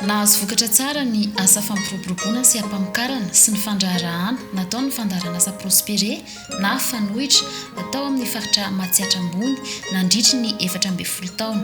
Nahazo vokatra tsara ny asa fampiroboroboana sy ampamokarana sy ny fandraharahana nataon'ny fandaharanasa Prospere na Fanoitra tao amin'ny faritra Matsiatra Ambony nandritry ny efatra ambin'ny folo taona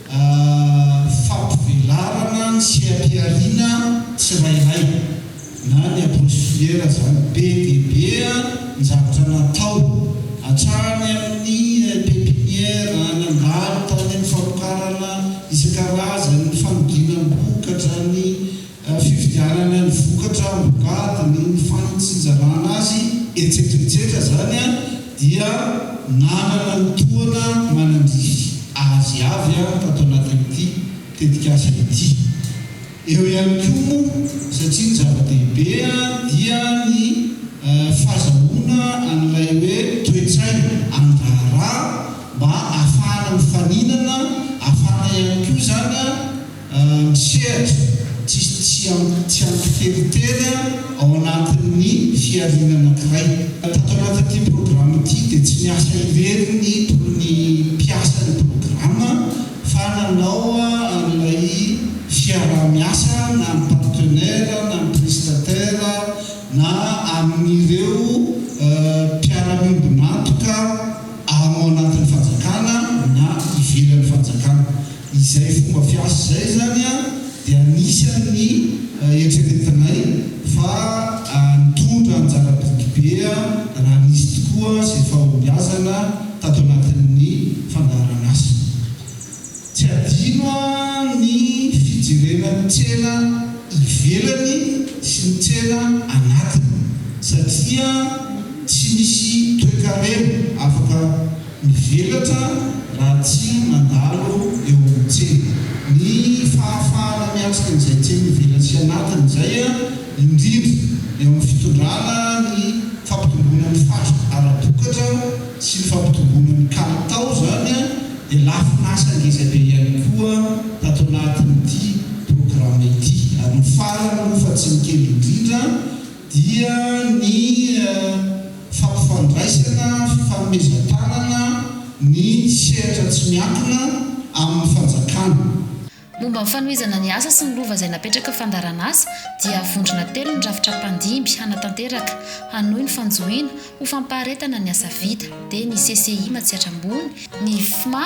Fampivelarana ny seha-pihariana tsirairay na ny approche filière izany. Be dia be ny zavatra natao, hatrany amin'ny pepinière, nandalo tany amin'ny famokarana isan-karazany, ny fanoginam-bokatra, ny Ny fividianana ny vokatra ambokady, ny fanitsinjarana azy, etsetra etsetra izany dia nanana ny tohana manandrify azy avy tato anatin'ity tetikasa ity. Eo ihany koa moa satria ny zava-dehibe dia ny fazahoana an'ilay hoe toe-tsaina amin'ny raharaha mba ahafahana mifaninana, ahafahana ihany koa izany Misehatra tsisy tsy tsy ampy telo tena ao anatin'ny fihariana anankiray. Tato anatin'ity programa ity dia tsy niasa irery ny tolon'ny mpiasa ny programa fa nanao an'ilay fiaraha-miasa na amin'ny partenaire na amin'ny prestataire na amin'ireo mpiara-miombon'antoka ao anatin'ny fanjakana na ivelan'ny fanjakana. Izay fomba fiasa izay izany dia anisan' ny eritreretinay fa nitondra anjara biriky be raha nisy tokoa izay fahombiazana tato anatin' ny fandaharan' asa. Tsy adino ny fijerena ny tsena ivelany sy ny tsena anatiny satria tsy misy toekarena afaka Mivelatra raha tsy mandalo eo amin'ny tsena. Ny fahafahana miatrika an'izay tsy mivela sy anatiny izay, indrindra eo amin'ny fitondrana ny fampitomboana ny fatra ara-bokatra sy ny fampitomboana ny kalitao izany dia lafin'asa ngeza be ihany koa tato anatin'ity programa ity. Ary ny farany moa fa tsy ny kely indrindra dia ny. fampifandraisana, fifanomezan-tanana ny sehatra tsy miankina amin'ny fanjakana. Momba ny fanohizana ny asa sy ny lova izay napetraka fandaharan'asa dia vondrona telo ny rafitra mpandimby hanatanteraka, hanohy ny fanjohiana, ho fampaharetana ny asa vita, dia ny CCI Matsiatra Ambony, ny FMA,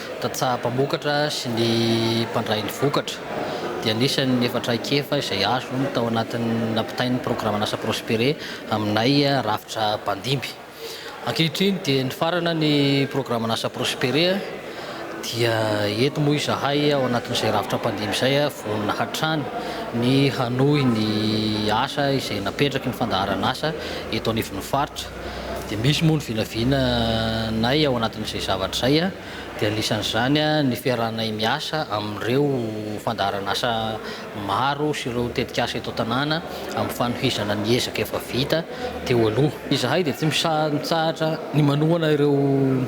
Tantsaha mpamokatra sy ny mpandray ny vokatra dia anisan' ny efa traikefa izay azony tao anatin' ny nampitainy ny Programan'asa Prospere aminay rafitra mpandimby. Ankehitriny dia nifarana ny Programan'asa Prospere dia eto moa izahay ao anatin'izay rafitra mpandimby izay vonona hatrany ny hanohy ny asa izay napetraky ny fandaharan'asa eto anivon'ny faritra, Dia misy moa ny vinavina nay ao anatin'izay zavatra izay dia anisan'izany ny fiarahanay miasa amin'ireo fandaharan'asa maro sy ireo tetik'asa eto an-tanàna amin'ny fanohizana ny ezaka efa vita teo aloha. Izahay dia tsy misaha-mitsahatra ny manohana ireo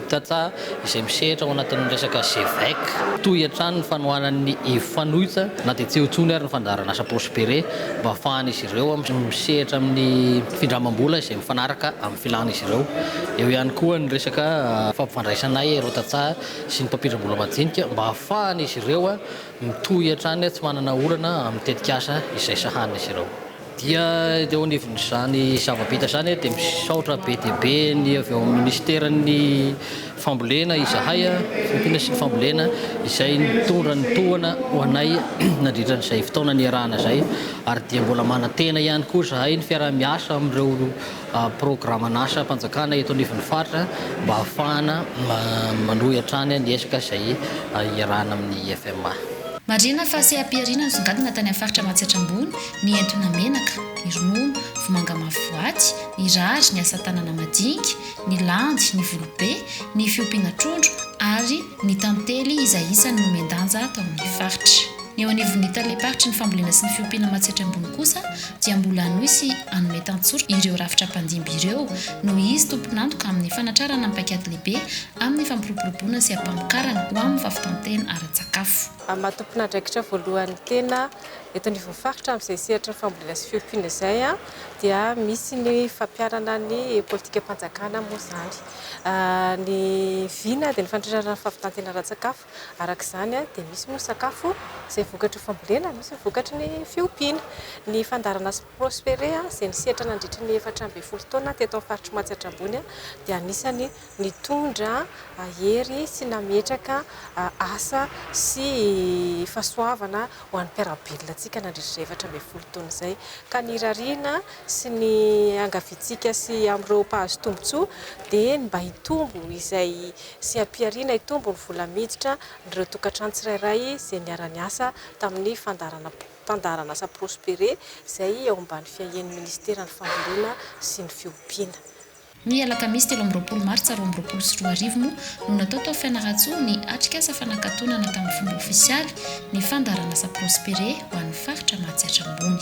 tantsaha izay misehatra ao anatin'ny resaka GEVEC. Tohy hatrany ny fanohanan'ny Ifanoita na dia tsy eo intsony ary ny fandaharan'asa Prospere mba hahafahan'izy ireo misehatra amin'ny findramam-bola izay mifanaraka amin'ny filàn'izy ireo. Eo ihany koa ny resaka fampifandraisanay ireo tantsaha sy ny mpampindram-bola majinika mba hahafahan'izy ireo mitohy hatrany tsy manana olana amin'ny tetikasa izay sahanin'izy ireo. Dia teo anivon'izany zava-bita izany dia misaotra be dia be ny avy ao amin'ny Minisiteran'ny fambolena izahay, fiompiana sy ny fambolena, izay nitondra ny tohana ho anay nandritra an'izay fotoana niarahana izay ary dia mbola manantena ihany koa izahay ny fiaraha-miasa amin'ireo programan'asam-panjakana eto anivon'ny faritra mba hahafahana manohy hatrany ny ezaka izay iarahana amin'ny IFMA. Marihina fa seha-pihariana nisongadina tany amin'ny faritra Matsiatra Ambony ny entona menaka, ny ronono, vomanga mavo boaty, ny rary, ny asa tanana madinika, ny landy, ny volobe, ny fiompiana trondro ary ny tantely izay isany nomen-danja tao amin'ny faritra. Ny eo anivon'ny talem-paritry ny fambolena sy ny fiompiana Matsiatra Ambony kosa dia mbola hanohy sy hanome tantsorika ireo rafitra mpandimby ireo noho izy tompon'antoka amin'ny fanatrarana ny paikady lehibe amin'ny fampiroboroboana sy ampamokarana ho amin'ny fahavitan-tena ara-tsakafo. Maha tompon'andraikitra voalohany tena Eto anivon'ny faritra amin'izay sehatry ny fambolena sy fiompiana izay dia misy ny fampiharana ny politikam-panjakana moa izany. Ny vina dia ny fandrindrana ny fahavitan-tena ara-tsakafo. Araka izany dia misy moa ny sakafo izay vokatry ny fambolena, misy ny vokatry ny fiompiana. Ny fandaharana sy Prospere izay nisehatra nandritry ny efatra ambin'ny folo taona teto amin'ny faritr'i Matsiatra Ambony dia anisan'ny nitondra hery sy nametraka asa sy fahasoavana ho an'ny mpiara-belona antsika nandritra izay efatra ambin'ny folo taona izay, ka ny irariana sy ny iangaviantsika sy amin'ireo mpahazo tombontsoa dia ny mba hitombo izay sy hampiharina hitombo ny vola miditra an'ireo tokantrano tsirairay izay niara-niasa tamin'ny fandaharanasa Prospere izay ao ambany fiahian'ny Minisiteran'ny Fambolena sy ny Fiompiana. Ny alakamisy telo amby roapolo martsa roa amby roapolo sy roa arivo moa no natao tao Fianarantsoa ny atrikasa fanakatonana tamin'ny fomba ofisialy ny fandaharanasa Prospere ho an'ny faritra Mahatsiatra Ambony.